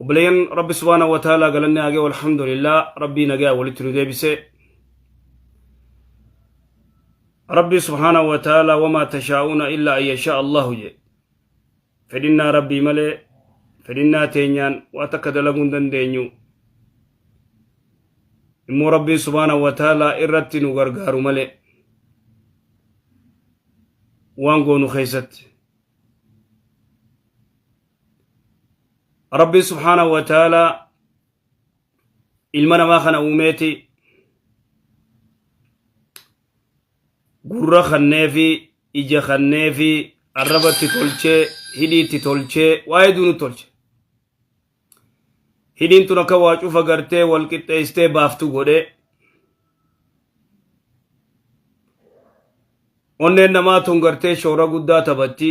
obboleeyyan rabbi subhaana wa ta'ala galanni haa ga'u alhamdulillah rabbii nagaa walitti nu deebise rabbi subhaana wa ta'ala wamaa tashaa'uuna illaa an yashaa allahu jedhe fedhinnaa rabbii malee fedhinnaa teenyaan waa takka dalaguu hin dandeenyu immoo rabbiin subhaana wa ta'ala irratti nu gargaaru malee waan goonu keessatti rabbiin subhaanahu wa ta'aalaa ilma namaa kana uumeeti gurra kanneefi ija kanneefi arrabatti tolchee hidhiitti tolchee waa hedduu nu tolche hidhiin tun akka waa cufa gartee wal qixxeessitee baaftu godhe onneen namaa tun gartee shoora guddaa taphatti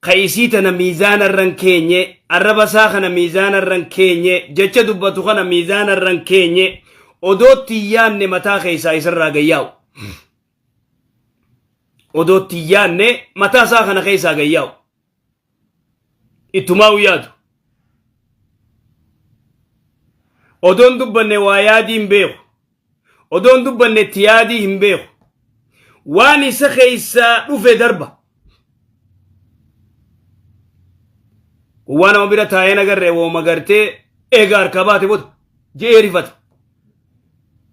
ka isii tana miizaana irra hin keenye, arraba isaa kana miizaana irra hin keenye, jecha dubbatu kana miizaana irra hin keenye, odoo itti hin yaanne mataa keessaa isa irraa gad yaa'u. Odoo itti hin yaanne mataa isaa kana keessaa gad yaa'u. Ittumaa yaadu. Odoon dubbanne waa yaadii hin beeku. Odoo hin dubbanne itti yaadii hin beeku. Waan isa keessaa dhufe darba. Gowwaa nama bira taa'ee nagarree wooma gartee eega harkaa baate bota je'ee rifata.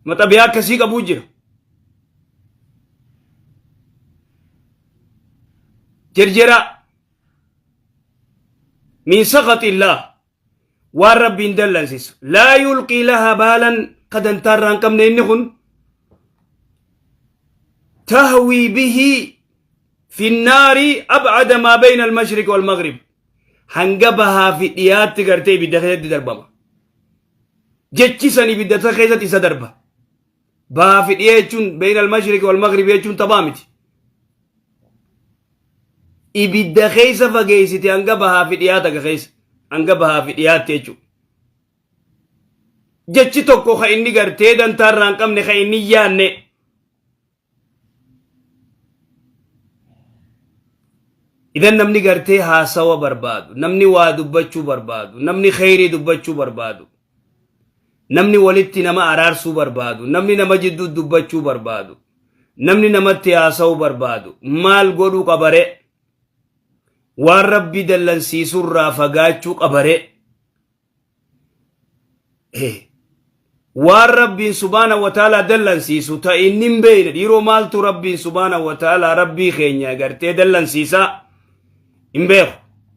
Maxabiyaa akkasii qabuu jira. Jerjeraa. Min saqaxillaa. waan rabbiin dallansisu laa yulqii laha baalan ka dantaa irraa hin qabne inni kun tahwii bihi fi nnaari abcada maa bayna almashriqi walmaghrib hanga bahaa fi dhiyaatti gartee ibidda keessatti darbama jechi san ibidda keessatti isa darba Bahaa fi dhiyee jechuun beeyna al-mashriqi wal-maghribi jechuun taphaa miti. Ibidda keessa fageessite hanga bahaa fi dhiyaa takka keessa hanga bahaa fi dhiyaatti jechuudha. Jechi tokko kan inni gartee dantaa irraa hin qabne kan inni hin yaanne. Idan namni gartee haasawa barbaadu, namni waa dubbachuu barbaadu, namni kheyrii dubbachuu barbaadu. namni walitti nama araarsuu barbaadu, namni nama jidduu dubbachuu barbaadu, namni namatti haasa'uu barbaadu maal godhuu qabare? Waan rabbi dallansiisurraa fagaachuu qabare? Waan rabbiin subaana wataalaa dallansiisu ta inni hin beeyne dhiiroo maaltu rabbiin subaana wataalaa rabbii keenya gartee dallansiisaa hin beeku.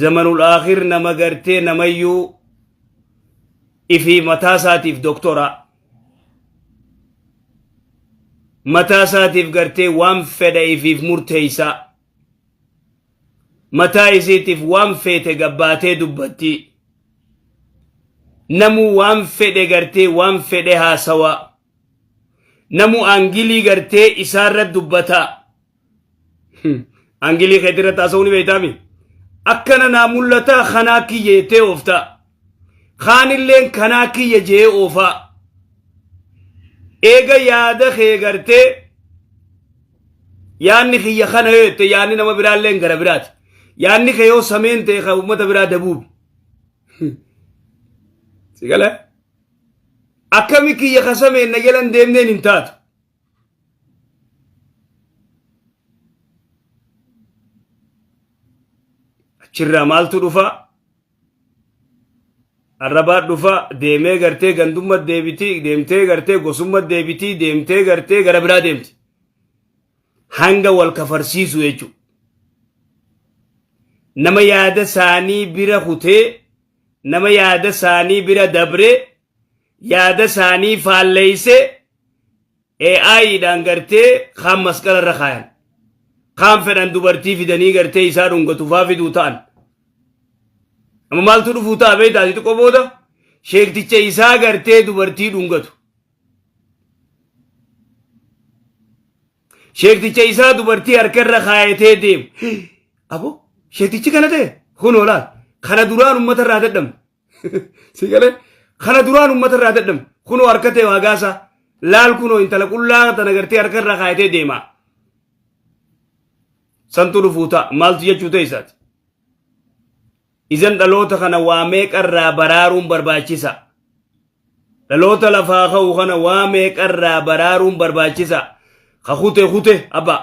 zamanul akhir nama gartee namayyuu ifii mataa isaatiif doktoraa mataa isaatiif gartee waan fedha ifiif murteeysaa mataa isiitiif waan feete gabbaatee dubbattii namuu waan fedhe gartee waan fedhe haasawaa namu angilii gartee isaarra dubbataa angilii keetirra taasa'uu ni beektaami akkana naa mul'ataa kanaa kiyya jettee ooftaa kaanilleen kanaa kiyya jee oofaa eega yaada kee gartee yaanni kiyya kana yoo jette yaanni nama biraalleen gara biraati yaanni kee yoo sameen ta'e kan uummata biraa dabuubi sigala akkami kiyya ka sameen na jala hin deemneen hin taatu achirraa maaltu dhufa arrabaa dhufa deemee gartee gandumma deebiti deemtee gartee gosumma deebiti deemtee gartee gara biraa deemti hanga wal kafarsiisu jechuudha nama yaada isaanii bira kutee nama yaada isaanii bira dabre yaada isaanii faalleeyse AI dhaan gartee kaan masqala irra kaayan kaan fedhan dubartii fidanii gartee isaa dhungatu faa fiduu ta'an amma maaltu dhufuu ta'a beektaa ati xiqqoo booda sheekticha isaa gartee dubartii dhungatu Sheekticha isaa dubartii harka irra kaayatee deemu. Abo sheektichi kana ta'e kun oolaa kana duraan uummata irraa dadhamu. Si galee kana duraan uummata irraa dadhamu kunoo harka ta'e hagaasaa laal kunoo intala qullaa tana gartee harka irra kaayatee deema. Santu dhufuu ta'a maaltu jechuu ta'e isaati. Izan dhaloota kana waa meeqa irraa baraaruun barbaachisa? Dhaloota lafaa ka'u kana waa meeqa irraa baraaruun barbaachisa? Ka kute kute abba.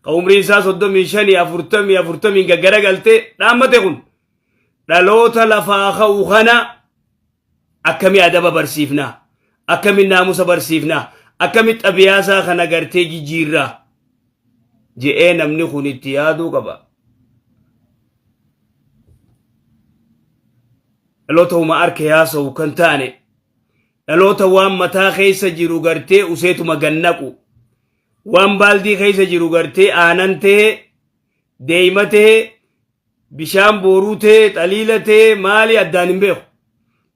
Ka umrii isaa soddomii shanii afurtamii afurtamiin gaggara galtee dhaammate kun dhaloota lafaa ka'u kana akkami adaba barsiifna akkami naamusa barsiifna akkami xabiyaasaa kana gartee jijjiirra je'ee namni kun itti yaaduu qaba dhaloota huma arke haasa'u kan taane dhaloota waan mataa keessa jiru gartee useetuma gannaqu waan baaldii keessa jiru gartee aanan ta'e deeyma ta'e Bishaan booruu tee, xaliila tee, maali addaan hin beeku.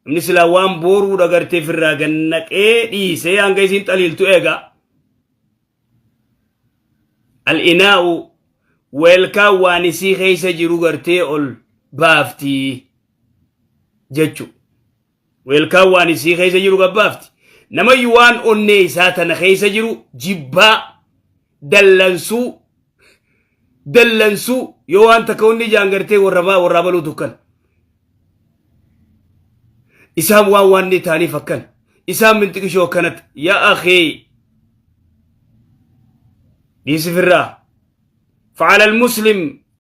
Inni silaa waan booruu dhagartee firraa gad naqee dhiisee hanga isiin xaliiltu eega. Al-inaa'u weelkaan waan isii keessa jiru gartee ol baafti jechu. Weelkaan waan isii keessa jiru gabbaafti. Namayyu waan onnee isaa tana keessa jiru jibbaa, dallansuu, dallansuu yoo waan takka hundi ijaan gartee warrabaa warraa baluu tukkan. Isaan waan waan ni taaniif akkan. Isaan minxiqishoo akkanatti. Yaa akee. Dhiisi firraa. Fa'alal muslim